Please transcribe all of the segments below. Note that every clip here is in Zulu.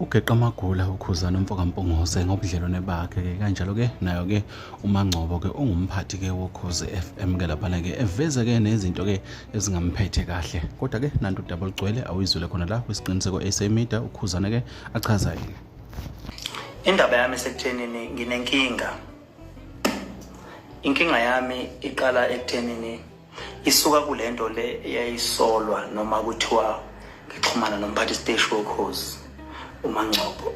ugeqa amagula ukhuzana umfokampungose ngobudlelwane bakhe-ke kanjalo-ke nayo-ke umangcobo-ke ungumphathi-ke wokhozi FM ke laphana-ke eveze-ke nezinto-ke ezingamphethe kahle kodwa-ke nanto udaba olugcwele awuyizwile khona la kwisiqiniseko sa media ukhuzane-ke achaza yini indaba yami sekuthenini nginenkinga inkinga yami iqala ekuthenini isuka kule nto le eyayisolwa noma kuthiwa ngixhumana nomphathi siteshi wokhozi umangcobo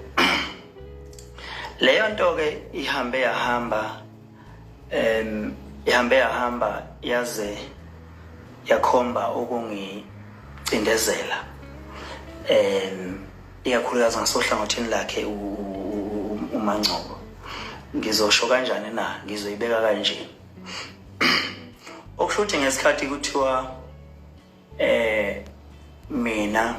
leyo nto-ke ihambe yahamba um ihambe yahamba yaze yakhomba ukungicindezela um ikakhulukazi ngasohlangothini lakhe umangcobo ngizosho kanjani na ngizoyibeka kanjeni okusho ukuthi ngesikhathi kuthiwa eh mina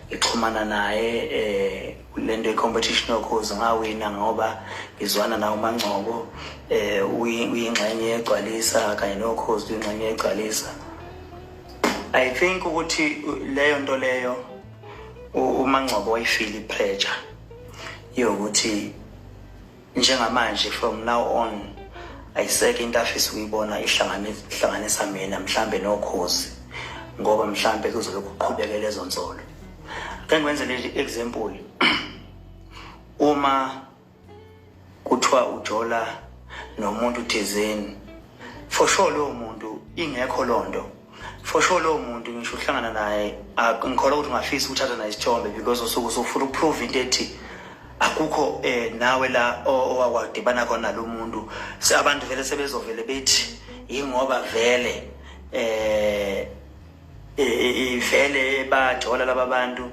ngixhumana naye eh lento i-competition yokhozi ngawina ngoba ngizwana nawo umangcobo eh uyingxenye yegcwalisa kanye nokhozi uyingxenye yegcwalisa i think ukuthi leyo nto leyo umangcobo wayifile i-pressure yokuthi njengamanje from now on ayiseke into afisa ukuyibona ihlanganisa mina mhlambe nokhozi ngoba mhlambe kuzobe kuqhubeke lezo nsolo ke ngwenze leli example uma kuthiwa ujola nomuntu thizeni for sure lowo muntu ingekho lonto for sure lowo muntu ngisho uhlangana naye ngikholwa ukuthi ungafisa ukuthatha naye isithombe because usuke usufuna ukuprove into ethi akukho eh nawe la owakwadibana khona lo muntu abantu vele sebezovele bethi yingoba vele eh ivele bajola laba bantu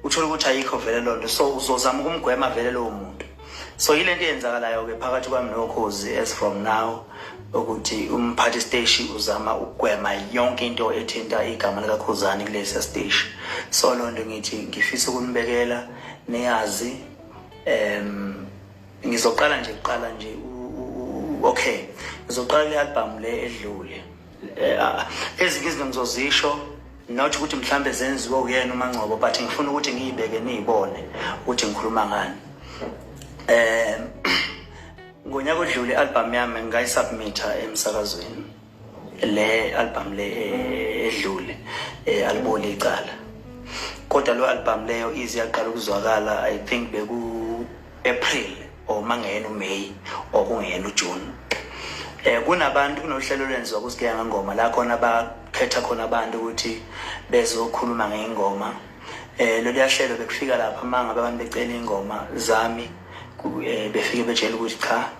uthola ukuthi ayikho vele loo nto so uzozama ukumgwema vele lowo muntu so yile nto eyenzakalayo-ke phakathi kwami nokhozi as from now ukuthi umphathi steshi uzama ukugwema yonke into ethinta igama likakhuzani kulesiya steshi so loo nto ngithi ngifisa ukunibekela niyazi um ngizoqala nje kuqala nje okay ngizoqala le albhamu le edlule Eh, ah, ezinye izinto ngizozisho not ukuthi mhlambe zenziwe uyena umangcobo but ngifuna ukuthi ngiyibeke niyibone ukuthi ngikhuluma ngani eh ngonyaka odlule album yami ngayisubmita emsakazweni le album le eh, edlule eh, aliboli icala kodwa lo album leyo izi yaqala ukuzwakala i think beku April or mangeyena uMay or kungeyena uJune eh kunabantu kunohlelo lwenziwa kusigeya ngengoma la khona bakhetha khona abantu ukuthi bezokhuluma ngengoma eh lolu yahlelo bekufika lapha manga abantu becela ingoma zami eh, befike betshela ukuthi cha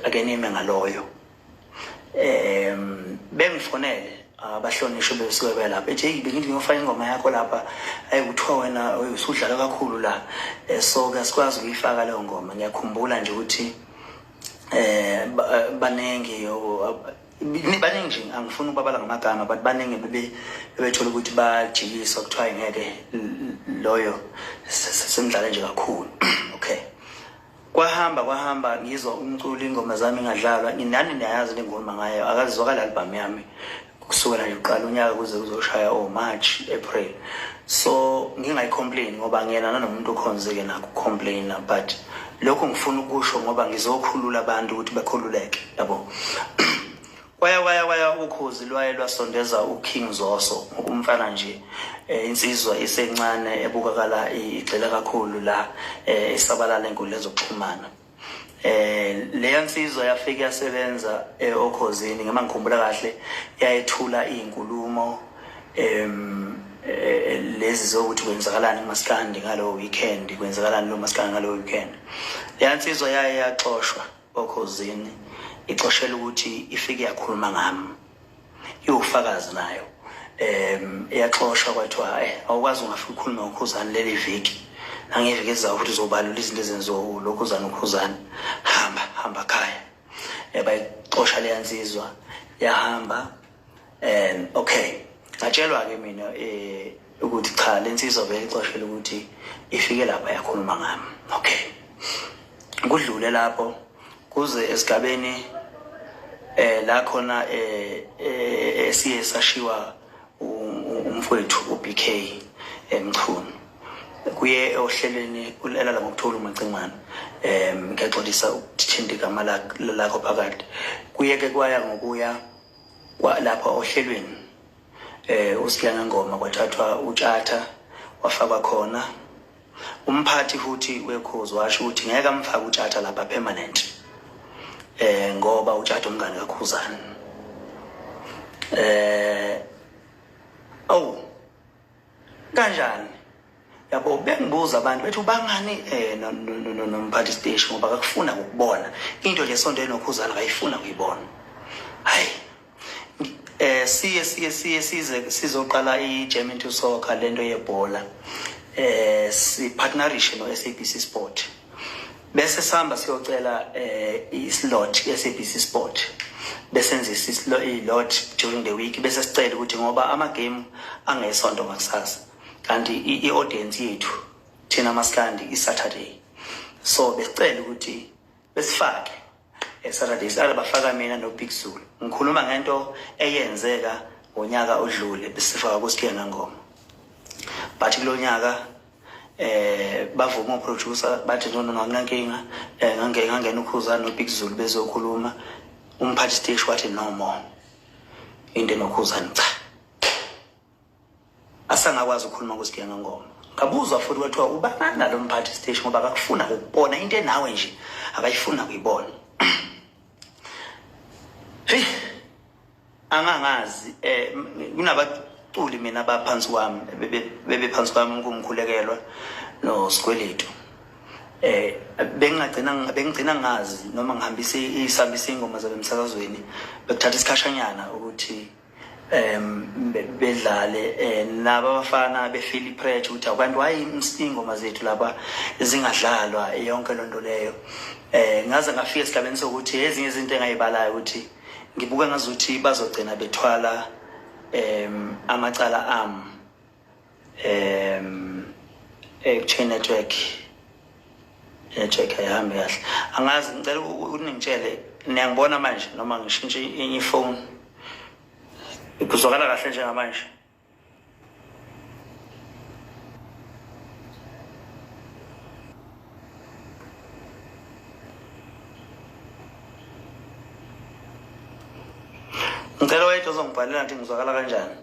akenime ngaloyo um bengifonele abahlonishwe ah, besuke belapha ethi eyi bengithi ngiyofaka ingoma yakho lapha ayi kuthiwa wena usudlala kakhulu la eh, so ke sikwazi ukuyifaka leyo ngoma ngiyakhumbula nje ukuthi eh, eh baningi baningi nje angifuni ukubabala ngamagama but baningi bebethola ukuthi bajikiswa kuthiwa ngeke loyo semdlale nje kakhulu kwahamba kwahamba ngizwa umculo ingoma zami ngadlalwa nginani niyayazi le ngoma ngayo akazizwakala albhamu yami kusukela nje uqala unyaka kuze kuzoshaya o oh, march april so ngingayicomplain ngoba ngiyena nanomuntu okhonzeke nakho complaina but lokho ngifuna ukusho ngoba ngizokhulula abantu ukuthi bakhululeke yabo kwaya kwaya kwaya ukhozi lwaye lwasondeza uKing Zoso ngokumfana nje eh, insizwa isencane ebukakala igxila kakhulu la eh, isabalala enkundla zokuxhumana eh leya nsizwa yafika yasebenza eh, okhozini ngema ngikhumbula kahle yayethula izinkulumo em lezi zokuthi kwenzakalani kumaskandi ngalo weekend kwenzakalani lo maskandi ngalo weekend leya nsizwa yaye yaxoshwa okhozini ixoshela ukuthi ifike yakhuluma ngami iwufakazi nayo um iyaxoshwa kwathiwa e awukwazi ungafika ukhulume ngokhuzane leli viki nangeviki ezayo ukuthi uzobalula izinto ezenziwa ulokhuzane ukhuzane hamba hamba khaya um bayixosha leya nsizwa yahamba um okay ngatshelwa-ke mina um ukuthi cha le nsizwa vele ixoshela ukuthi ifike lapha yakhuluma ngami okay kudlule lapho kuze esigabeni eh la khona eh, eh siye sashiwa umfowethu uBK emchunu kuye ohlelweni ulela la ngokuthola umacingwana em ngexolisa ukuthinta igama lakho phakathi kuye ke kwaya ngokuya Kwalapha ohlelweni eh uSihlangangoma kwathathwa utshatha wafakwa khona umphathi futhi wekhozi washo ukuthi ngeke amfake utshatha lapha permanent eh ngoba utshatha umngane kakhuzana eh awu kanjani yabo bengibuza abantu bethu bangani eh nomphathi station ngoba kakufuna ukubona into nje sonto enokhuzana kayifuna ukuyibona hayi eh siye siye siye size sizoqala i-German to soccer lento yebhola eh si partnership no SABC Sport bese sihamba siyocela um islodge kwi-sabc sport besenzisa i-lodge during the week bese sicela ukuthi ngoba amagame angesonto ngakusasa kanti i-audience yethu thina masikandi i-saturday so besicela ukuthi besifake esaturday sihlala bafaka mina nobig zulu ngikhuluma ngento eyenzeka ngonyaka odlule besifaka kusikhena ngoma but kulo nyaka eh bavuma uproducer bathi no no anginankinga eh ngangena ngangena ukhuzana nobig zulu bezokhuluma umphathi stage wathi no more into enokhuzana cha asangakwazi ukukhuluma kusigiya ngengoma ngabuzwa futhi kwathiwa ubangani nalo mphathi stage ngoba akakufuna ukubona into enawe nje akayifuna kuyibona hey angangazi eh kunabaculi mina abaphansi kwami bebephansi kwami ngumkhulekelwa nosikweletu eh bengagcina bengigcina ngazi noma ngihambisa isambisa ingoma zabe emsakazweni bekuthatha isikhashanyana ukuthi um bedlale um naba abafana befile ipressure ukuthi abantu wayi ingoma zethu laba zingadlalwa yonke loo nto leyo um ngaze ngafika esigabeni sokuthi ezinye izinto engayibalayo ukuthi ngibuka ngazuthi bazogcina bethwala um amacala ami um ekutheni network network ayihambi kahle angazi ngicela ukuthi ningitshele niyangibona manje noma ngishintshe enye ifoni kuzwakala kahle njengamanje ngicela wayethu ozongibhalela ngithi ngizwakala kanjani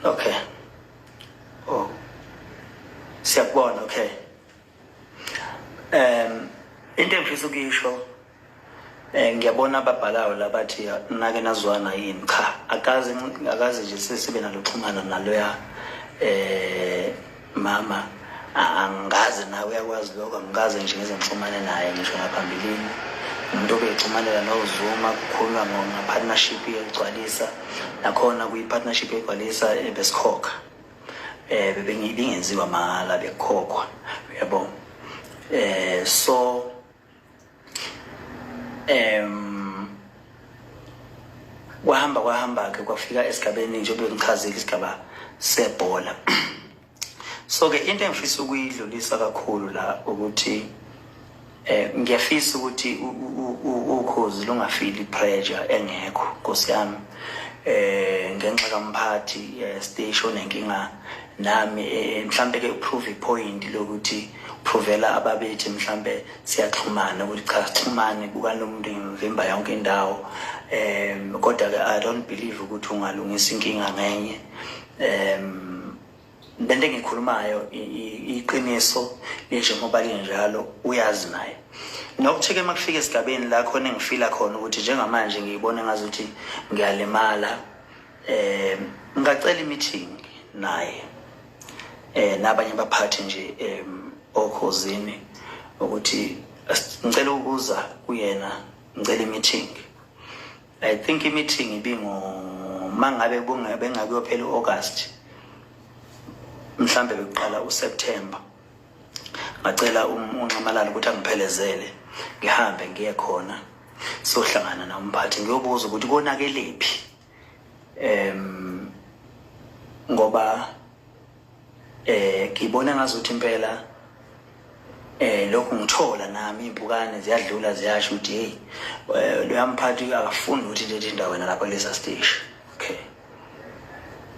okay oh siyakubona okay um into engifisa ukuyisho Eh ngiyabona ababhalayo labathi nake nazwana yini cha akazi akazi nje sesibe naloxhumana naloya eh mama angazi nawe uyakwazi lokho angikaze nje ngize ngixhumane naye ngisho ngaphambilini umuntu obeyixhumanela nozuma kukhulunywa ngapartnership yokugcwalisa nakhona kuyi-partnership yokugcwalisa ebesikhokha eh, um bebingenziwa mahhala bekukhokhwa uyabo um so um kwahamba kwahamba-ke kwafika esigabeni njengoba ngichazile isigaba sebhola so-ke into engifisa ukuyidlulisa kakhulu la ukuthi eh ngiyafisa ukuthi ukhozi lungafili pressure engekho nkosi yami eh ngenxa kamphathi eh, station enkinga nami eh, mhlampe ke uprove ipoint lokuthi uprovela ababethi mhlampe siyaxhumana ukuthi cha sixhumane buka nomuntu ngimvimba yonke indawo um kodwa ke i don't believe ukuthi ungalungisa inkinga ngenye um lento engikhulumayo iqiniso linjengoba linjalo uyazi naye nokuthi-ke uma kufika esigabeni la khona engifila khona ukuthi njengamanje ngiyibone ngazuthi ngiyalimala eh ngacela i-meeting naye eh nabanye abaphathi nje em okhozini ukuthi ngicela ukuza kuyena ngicela i-meeting i think i-meeting ibingo mangabe kungabe ngakuyophela u-August mhlambe bekuqala uSeptember ngacela um-, unxamalala ukuthi angiphelezele ngihambe ngiye khona sohlangana na umphathi ngiyobuza ukuthi konakelephi em ngoba eh ngibona ngazuthi impela eh lokhu ngithola nami impukane ziyadlula ziyasho ukuthi hey eh, loyamphathi akafuni ukuthi lethi indawo yena lapha kulesa stage okay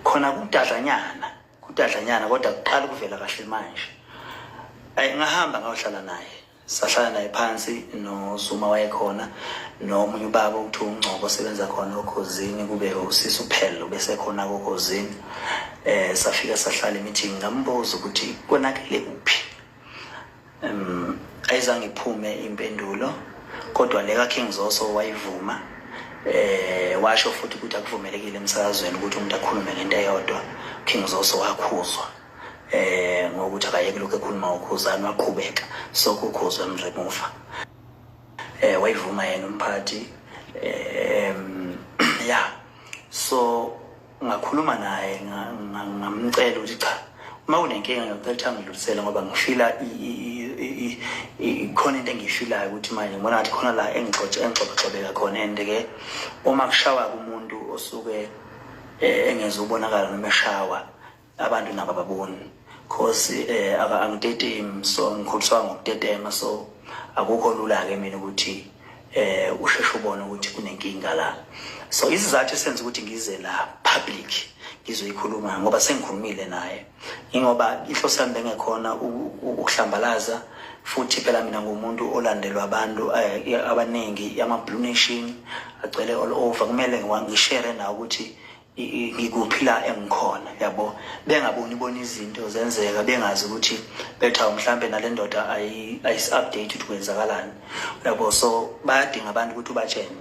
khona kudadlanyana kudadlanyana kodwa kuqala ukuvela kahle manje ayingahamba ngayohlala naye sahlala naye phansi nosuma wayekhona nomunye ubaba okuthiwa ungcobo osebenza khona okhozini kube usisi uphele ubesekhona kokhozini eh safika sahlala emeeting ngambuza ukuthi konakele kuphi um ayizange iphume impendulo kodwa le kakhe ngizoso wayivuma eh washo futhi ukuthi akuvumelekile emsakazweni ukuthi umuntu akhulume ngento eyodwa King Zoso wakhuzwa eh ngokuthi akayeke lokho ekhuluma ukhuzani waqhubeka sokukhuzwa emremover eh wayivuma yena umphathi eh ya so ngakhuluma naye ngamcela ukuthi cha uma unenkinga ngiyacela ngidlulisele ngoba ngifila khona into engiyifilayo ukuthi manje ngibona ngathi khona la engixoxe engixoxexobeka khona and ke uma kushawa kumuntu osuke eh, engezubonakala noma eshawa abantu nabo baboni cause eh angitetemi so ngikholiswa ngokutetema so akukho lula ke mina ukuthi eh usheshe ubone ukuthi kunenkinga la so isizathu esenza ukuthi ngize la public ngizoyikhuluma ngoba sengikhulumile naye ingoba inhloso yami bengekhona ukuhlambalaza futhi phela mina ngumuntu olandelwa abantu eh, abaningi ama-blue nation agcwele all over kumele ngishere nawo ukuthi ngikuphi la engikhona yabo bengaboni bona izinto zenzeka bengazi ukuthi betha mhlambe nale ndoda ayisi-update ukuthi kwenzakalani yabo so bayadinga abantu ukuthi ubatshene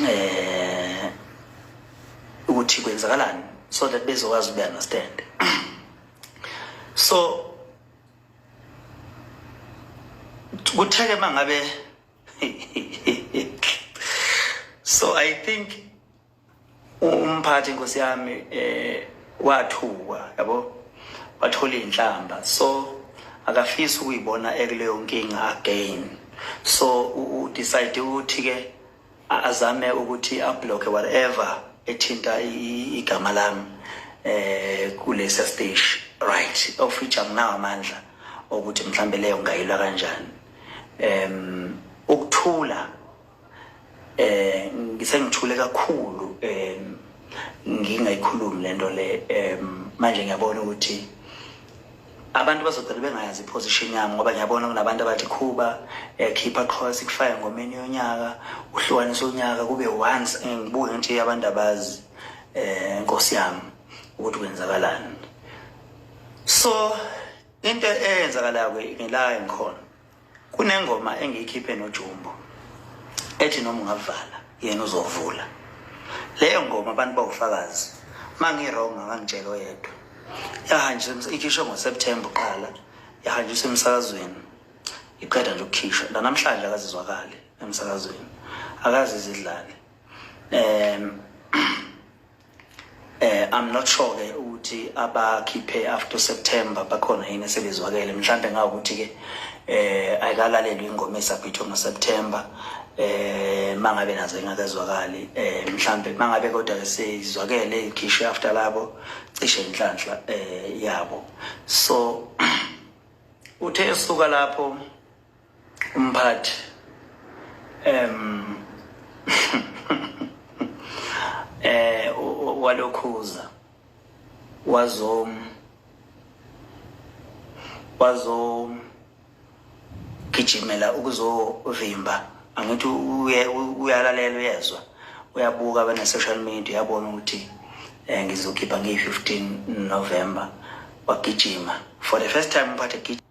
eh ukuthi kwenzakalani so that bezokwazi ukuyi-understand so kutheke uma ngabe so i think umphathi nkosi yami eh wathuka yabo wathola inhlamba so akafisi ukuyibona ekuleyo nkinga again so u decide ukuthi ke azame ukuthi ablock whatever ethinta igama lami eh kulesa stage right of which anginawo amandla ukuthi mhlambe leyo ngayilwa kanjani em ukuthula eh ngisengithule kakhulu em ngingayikhulumi lento le em manje ngiyabona ukuthi abantu bazogcina bengayazi iposition yami ngoba ngiyabona kunabantu abathi khuba ekhipha eh, qhola sikufaya ngomeni yonyaka uhlukanisa unyaka kube once eh, ngibuke ngithi abantu abazi um nkosi yami ukuthi kwenzakalani so into eyenzakalayo ngelayo ngikhona kunengoma engiyikhiphe nojumbo ethi noma ungavala yena uzovula leyo ngoma abantu bawufakazi uma ngi-wrong akangitshela oyedwa yahanjiswa ikhishwe ngoseptemba uqala yahanjiswa emsakazweni iqeda nje ukukhishwa nanamhlanje akazizwakali emsakazweni akazizidlali um Eh I'm not sure ke ukuthi abakhiphe after September bakhona yini sebezwakele mhlambe ngawukuthi ke eh ayikalalelwe ingoma esabhithwe ngo September eh mangabe nazo ingakezwakali eh mhlambe mangabe kodwa ke seyizwakele ikhishwe after labo cishe inhlanhla eh yabo so uthe esuka lapho umphathi um eh walokhuza wazom wazom gijimela ukuzovimba angithi uyalalela uyezwa uyabuka bene social media uyabona ukuthi eh ngizokhipha ngi 15 November wagijima for the first time umphathe gijima